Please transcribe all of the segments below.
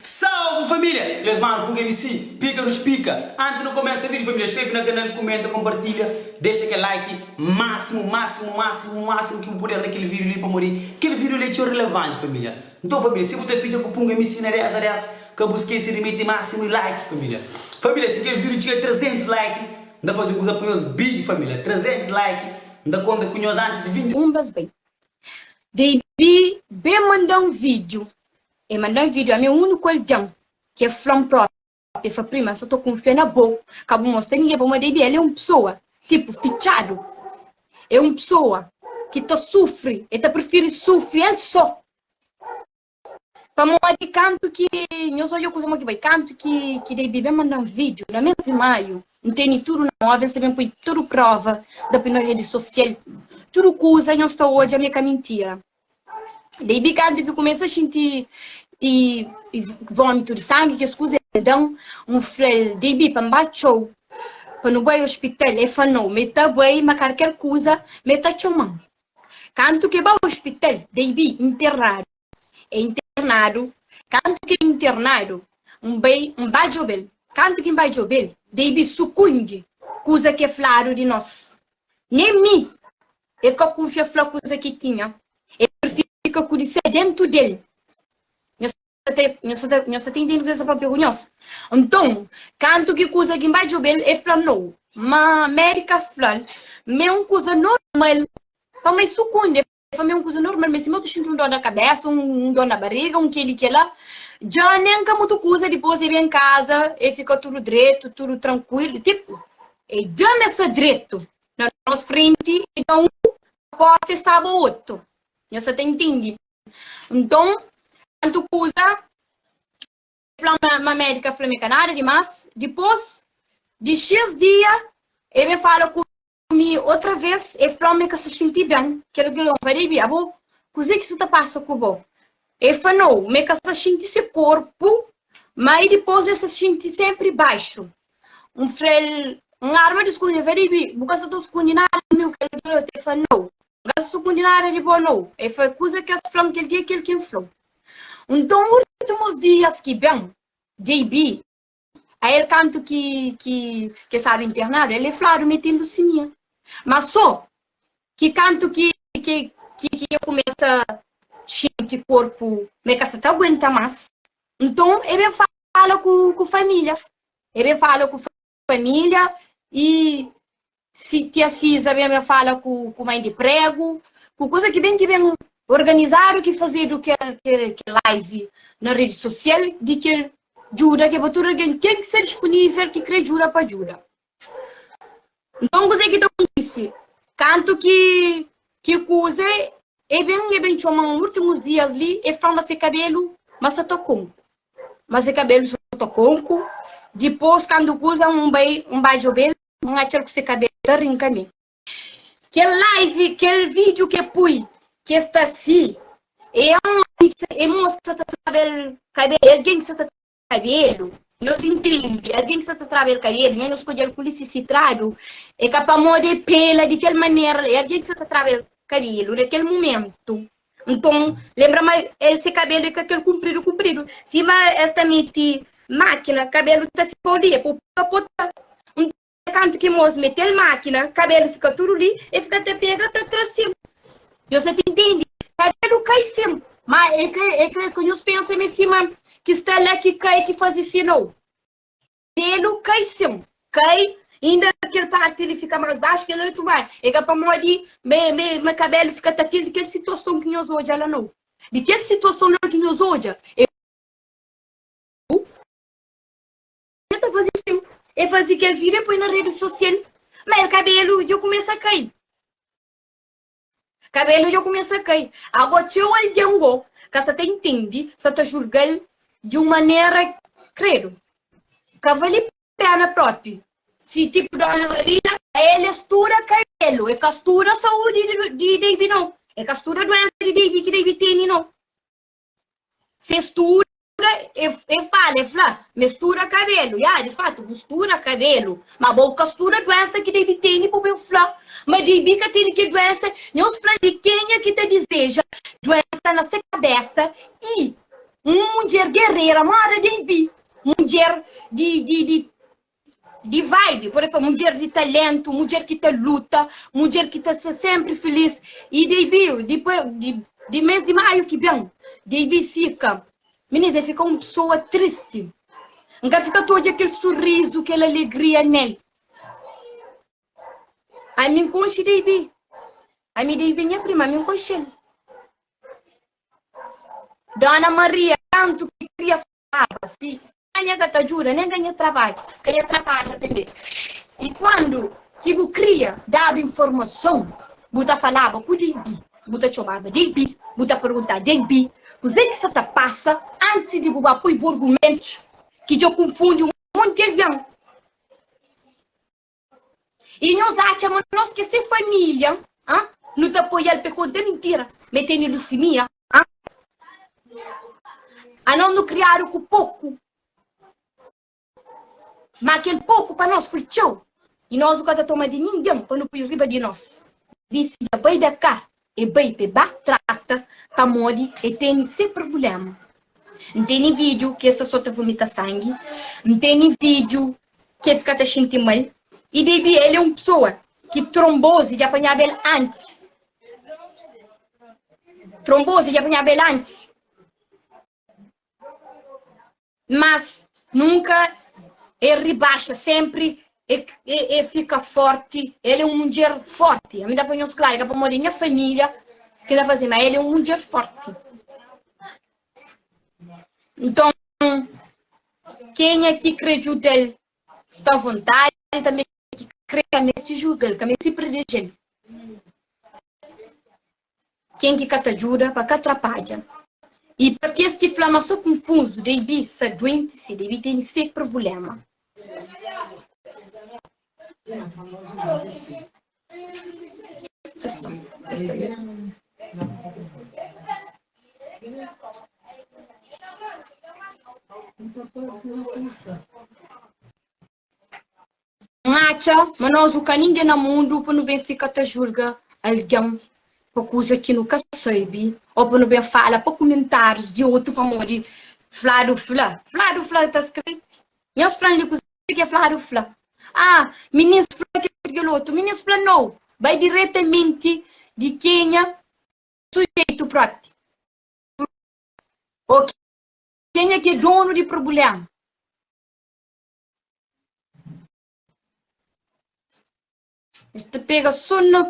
Salve família! Três manu ku MC Píkaru Spika Anti nu kumesa vídiu família skrebe na kanal kumenta konpartilha dexa kel like másimu másimu másimu másimu ki bu puder na kel vídiu li pamodi kel vídiu li é txeu relevanti família nton família si bu ta fitxa ku punga MC na 10 a 10 ka bu skese di mete másimu i like família família si kel vídiu txiga 300 like nda faze un kuza pa nhos big família 300 like. N ta konta ku nhos antis di vindi. Un bes bai Deibi ben manda-m vídiu. El manda-m vídiu, ami é úniku algen ki el fla-m própi. El fla prima, N sta ta kunfia na bo, ka bu mostra ningen pa bo. Má Deibi el é un pesoa tipu fitxadu. É un pesoa ki ta sufri, el ta prifiri sufri el sô. Pamodi kantu ki nhos odja kuza mau ki bai, kantu ki ki debe ben manda-m vídiu, na mês di maiu, N tene tudu na mó, vês, N ben poi tudu próva da poi na redi sosial. Tudu kuza nhos ta odja mi é ka mintira. Debe kantu ki kumesa xinti i i vómitu di sangi, kes kuza el da-m, N fla-l, Debe, pa N ba txeu, pa nu bai ospital. El fla-m, Nau, ma e ta bai, ma karker kuza ma e ta txoma-m. Kantu ke ba ospital, dei bi internadu. E internadu, kantu ke internadu, N bai, N ba djobe-l. Kantu ki N ba djobe-l, dei bi sukundi kuza ke fladu di nos. Nen mi, e ka kunfia fla kuza ki tinha. E prifiri fika ku di sel dentu del. Nhos ta ten intende kuzê sa pâpia ku nhos? Nton, kantu ki kuza ki N bai djobe-l, el fla no. Má Mary ka fla-l ma é un kuza normal, pamô el sukundi. El fla ma é un kuza normal, má sima el ta xinti un dó na kabésa, un dó na bariga, un kel-li kel-la. Dja nen ka mutu kuza, dipôs el ben kaza, el fika tudu dretu, tudu trankuilu. Tipu, el dja-m es sa dretu na nos frenti i da un kósa el staba otu. Nhos ta ten intende? Nton, kantu kuza el fla ma, ma médika fla ma e ka nada dimás, dipôs di xis dia el ben fala ku mi otra vez, el fla ma el ka sta xinti ben. Kel algen lónba, Debbie, abo, kuzê ki sta ta pasa ku bo? El fla no, ma el ka sta xinti se korpu, má i dipôs el sta xinti sénpri baxu. N fla el, N arma di skunde. El fla, Debbie, bu ka sta ta skunde nada di mi, kel algen lóta? El fla, no. N-ka sukundi nada di bo no E fla kuza ki es fla-m kel dia kel ki N fla-u Nton últimus dias ki ben JB A el kantu ki ki ke sabe internadu El e fladu metindu simia Má so ki kantu ki ki ki ki e kumesa xinti korpu ma e ka sa ta aguenta más Nton e ben fala ku ku família E ben fala ku família i si tia Siza ben la fala ku ku mai di pregu, ku kuza ki ben ki ben organizadu ki fazedu kel kel kel live na redi sosial di kel djuda ki é pa tudu algen ken ki sta dispunivel ki kre djuda pa djuda. Nton kuzê ki ta kontise? Kantu ki ki kuze e ben e ben txoma un últimus dias li e fla ma se kabelu ma sa ta konku. ma se kabelu so ta konku dipos kandu kuza un bai un bai djobel un atxal ku se kabelu ta rinka mi kel live kel video ke pui ke sta si e aonde ki sa e mosa ki sa ta traba el kabelu e algen ki sa ta traba el kabelu nos intendi algen ki sa ta traba el kabelu nha nos kodjel ku lisi si trabe u e ka pamodi e pela di kel manera la e algen ki sa ta traba el kabelu na kel mumentu Nton, lenbra ma el se kabelu é ka kel kunpridu kunpridu. Sima es ta mete mákina, kabelu ta fika-u li, e pô-u pota-pota. Nton, kantu ki Moze mete-l mákina, kabelu fika tudu li, el fika ta pega ta tra se-m. Nhos sa ta ntende, kabelu kai se-m, má é ka nhos pensa ma é se-m ki sta la ki kai ki faze sinal. Pelu kai sim kai inda kel parti li fika mas baxu kel oitu mai e ka pamodi me me me kabelu fika ta kel di kel situason ki nhos odja la nau di kel situason la ki nhos odja e u dja ta fazi sim e fazi kel video e poi na redi sosial ma el kabelu dja kumesa kai. Kabelu dja kumesa kai. Ago txeu algen go ka sa ta intendi, sa ta julga-l di un manera kredu. Ka vali pena propi si tipu Dona Maria. El e studa kabelu, e ka studa saudi di Deibi no, e ka studa duensa di Deibi ki Deibi teni no. Se stura, e, e fala, e fla, me stura kabelu. Ya, di fatu, bu stura kabelu. Ma bo ka stura duensa ki JB tene pa bu fla ma JB ka tene kel duensa. Nhos fla li kenha ki ta dizeja duensa na se kabesa i un mudjer gerera, moda JB, mudjer di, di, di di vibe pode fla mudjer di talentu mudjer ki ta luta mudjer ki ta sta sénpri filís y dbi dipoi di mês di maiu ki ben dbi fika minizê fika un pesoa tristi n ka fika ta odja kel surizu kel alegria nel ami n konxe dbi ami dbi nha prima ami n konxel dona maria kantu ki kria Aba, si Spanha ka ta djuda, nen ka nha trabadja, ka nha trabadja tanbe. I kuandu ki bu kria daba informason, bu ta falaba ku di bi, bu ta txomaba di bi, bu ta pergunta di bi kuzê ki sa ta pasa antis di bu ba poi bu argumentus, ki dja kunfundi un monti di algen. I nhos atxa ma nos ki é se família, ha? Nu ta apoia-l pa el konta mintira ma el tene lusimia, ha? Anos nu kriadu ku poku, má kel poku pa nos foi txeu i nos nu ka ta toma di ningen pa nu poi riba di nos. Dise dja bai da ka E bai pa e ba trata pamodi e teni se prubulema. N teni vidju ki es ta so ta vumita sangi, N teni vidju ki e fika ta xinti mal i debi el e un pesoa ki tronbozi dja panhaba el antis. Tronbozi dja panhaba el antis. Mas nunka el ribaxa, sénpri el fika fórti. El é un mudjer fórti. Ami ta fla nhos klaru, é ka pamodi é nha família ki el ta faze, má el é un mudjer fórti. Nton, kenha ki krê djuda-l sta avontádi, tanbê ki krê ka meste julga-l, ka meste prideje-l. ken ki ka ta djuda pa ka trapadja y pa kes ki fla ma sa kunfunzu dei bi sa duenti si dei bi teni se prbuléma. N atxa ma nos nu ka ningen na mundu pa nu ben fika ta julga algen pa kuza ki nu ka sabe o pa nu ben fala pa kumentárius di otu pamodi fladu fla. Fladu fla el ta skrebe. Nhos fla-m li kuza ki el fladu fla. Ah, minins fla kel ki kel otu. Minins fla nau. Bai diretamenti di kenha sujeitu própi ô kenha ki é donu di prubléma. Es ta pega só na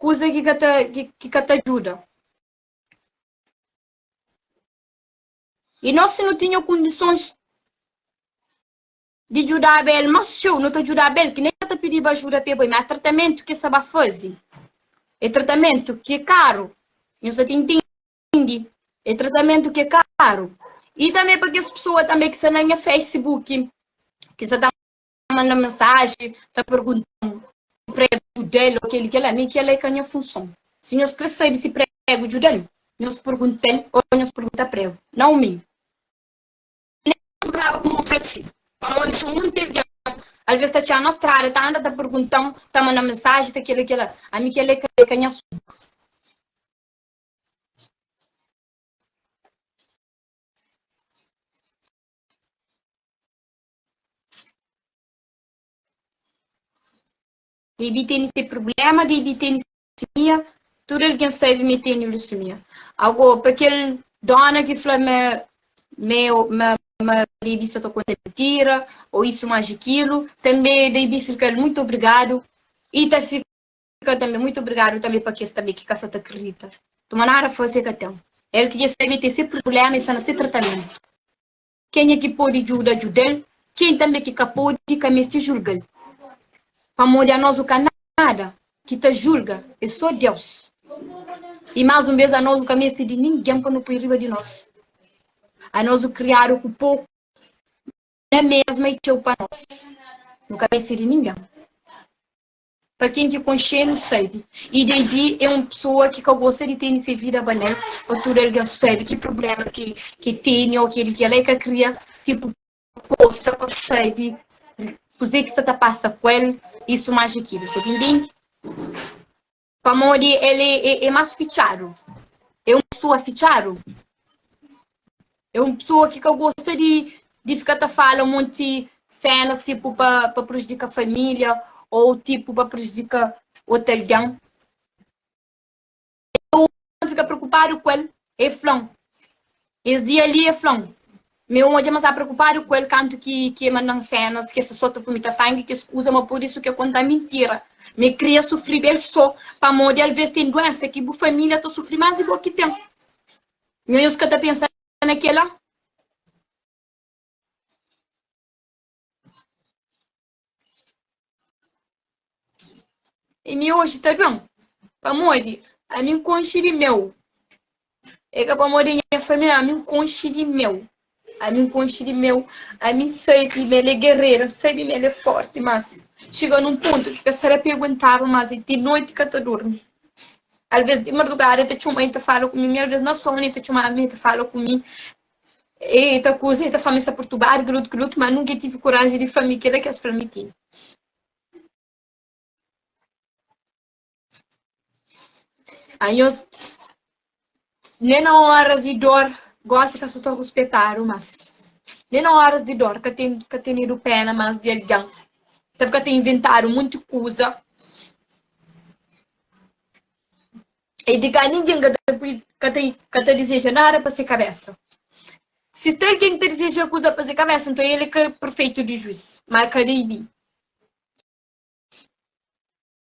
kuza ki ka ta, ki, ki ka ta djuda. I nos, si nu tinha kondisons di djudaba el más txeu, nu ta djudaba el, ki nen ka ta pidiba ajuda pa el bai. Má tratamentu ki es ta ba faze é tratamentu ki é karu. Nhos ta tintin. grandi, é tratamentu ki é karu. I tanbê pa kes pesoa tanbê ki sta na nha Facebook, ki sta ta manda-m mensaji, ta pergunta-m si prega djuda el ô kel-li, kel-la. Mi kel-la é ka nha funson. Si nhos krê sabe si prega djuda-l, nhos pergunta el ô nhos pergunta prego, nau mi. Nen nhos grava kuma ofrese, pamodi si un di algen alvês ta txia-m na strada, ta anda ta pergunta-m, ta manda-m mensaji, ta kel-li, kel-la. Ami kel-la é ka nha asuntu. Debi teni se problema, debi teni se mia, tudu algen sabe mi teni lusumia. Ago, pa kel dona ki fla ma meu, ma, ma debi sa ta konta mentira, o isu, maji kilu, tanbe debi fika-l mutu obrigadu i ta fika. ka tanbe muitu obrigadu tanbe pa kes tanbe ki ka sa ta kridita tuma nada fase ka ten el ki dja sabe ke se purblema e sta na se tratamentu kenha ki podi djuda djudal ken tanbe ki ka podi ka mesti julgal pamodi anos u ka nada ki ta julga e so deus e mas un bes anos u ka mesti di ningen pa nu pui riba di nos anos u kriadu ku poku na mesma e txeu pa nos nu ka mesti di ningen. Pa ken ki konxe-nu sabe, i Devi é un pesoa ki ka gosta di tene se vida bale-l pa tudu algen sabe ki prubléma ki el tene ô kel ki el ka kria ki poposta pa sabe kuzê ki sta ta pasa ku el, i suma atxa ki nu ta ben tende. Pamodi el é más fitxadu, é un pesoa fitxadu. é un pessoa ki ka gosta di di fika ta fala monti senas tipu pa pa prujudika família ou tipu pa prujudika otu algen eu ta fika preokupadu ku el el fla-m es dia li el fla-m ma eu odja ma sta preokupadu ku el kantu ki ki el manda-m senas ki el sta so ta vumita sangi kes kuza ma pur isu ki el konta-m mintira ma el kria sufri bê el so pamodi alvês ten duénsa ki bu família ta sufri más di bo ki ten Nha nhos ka ta pensa na kela. E mi oji ta ben pamodi ami nkonxi di meu. E ka pamodi nha família ami nkonxi di meu. Ami N konxe di meu, ami sabe ma el é gerera, N sabe ma el é fórti. Mas xega nun pontu ki ka sta ta perguntaba más i ti noti ka ta durmi. Alvês di mardugada el ta txoma-m i ta fala ku mi, mi alvês na sonu el ta txoma-m i ta fala ku mi. El ta kuza, el ta fla-m es ta perturbadu, kel otu, kel otu, má nunka el tevi koraji di fla-m kel-la ki es fla-m i ti. Anhos nen na óras di dór gósi ka sta ta ruspetadu más nen na óras di dór ka ten ka tenedu péna más di algen kel ka ta inventadu monti kuza i di ka ningen ka ta ka ta ka ta dizeja nada pa se kabésa si ten algen ki ta dizeja kuza pa se kabésa nton el é ka perfeitu di juís má el ka debe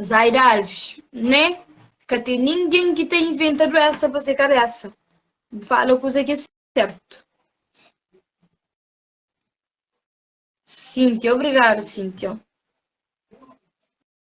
Zaida Alves, né? Ka tem ninguém que tem inventa doença pra ser cabeça. Fala coisa que é certo. Cíntia, obrigado, Cíntia.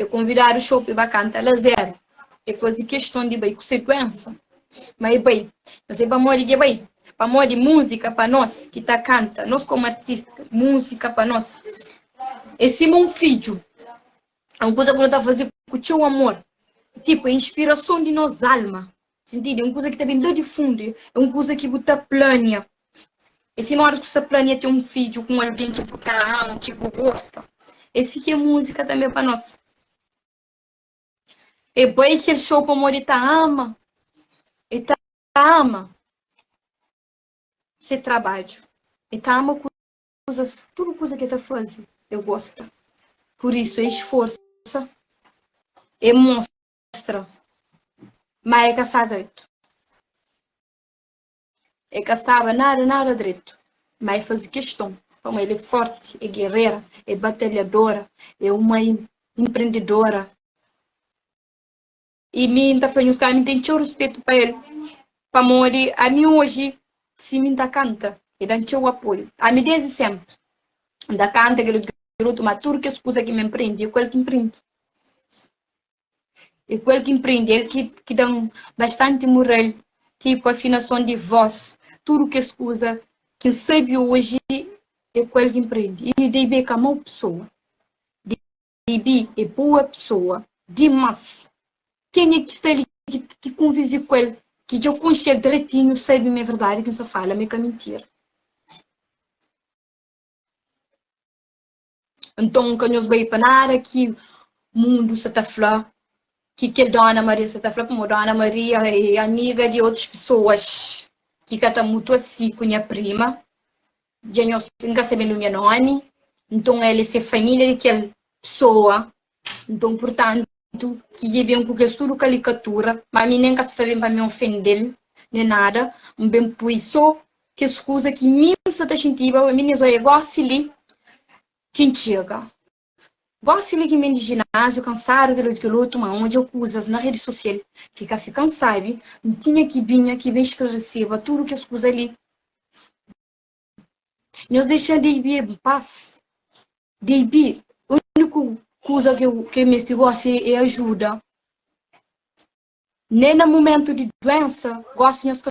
E konvidadu xope ba kanta lazer E faze keston di bai ku sekuensa Ma e bai No sai pamodi ki e bai Pamodi múzika pa nos ki ta kanta Nos komu artista múzika pa nos E sima un fidju É un kuza ku no ta faze ku txeu amor Tipu é inspirason di nos alma. Sintidi, un kuza ki ta ben la di fundu, é un kuza ki bu ta plania. É sima óras ki bu sta plania ten un fidju ku un algen ki bu ta ama, ki bu gosta. É si ki é múzika tanbê pa nos. É bai kel xou pamodi e ta ama, e ta ama se trabadju, e ta ama kuzas, tudu kuza ki e ta faze, e gosta. Pur isu, e sforsa, e mostra. Mostra. Má el ka sta dretu. El ka staba nada, nada dretu. Má el faze keston. Pamodi el é fórti, é gerera, é batalhadora, é un mai inprendedora. I mi, N ta fla nhos ka ami N ten txeu ruspetu pa el. Pamodi ami oji, si mi N ta kanta, el da-m txeu apoiu. Ami désdi sénpri N ta kanta kel otu grotu, má tudu kes kuza ki mi N prende, é ku el ki N prende. E ku el ki mprende el ki, ki da-m bastanti mural, ki ku afinason di vos, tudu kes kuza ki N sabe oji, e ku el ki mprende. I Daibi e ka mau pesoa. Daibi e bua pesoa dimás. Kenha ki sta li, ki konvive ku el, ki dja konxe el dretinhu, sabe ma é verdadi ki N sta fala, ma é ka mintira. Nton, ka nhos bai pa nada ki mundu sa ta fla, ki kel Dóna Maria sa ta fla, pamodi Dóna Maria é amiga di otus pesoas ki ka ta mutu asi ku nha prima. Dja nhos, N ka sabe el ume, nomi. Nton, el é se família di kel pesoa Nton, purtantu, ki dja ben ku kes tudu kalikatura, má mi nen ka sta ta ben pa mi ofende-l nen nada, N ben poi sô kes kuza ki mi N sta ta xintiba pa mi nes. Oi, é gósi li ki N txega. Gósi li ki N ben di jináziu, kansadu, kel-li otu, kel otu. Má N odja kuzas na redi sosial ki ka fika. N sabe, N tinha ki binha ki ben sklaresiba tudu kes kuza li. Nhos dexa-l JB en pas. JB, úniku kuza ki el meste gósi é ajuda. Nen na momentu di duénsa, gósi nhos ka.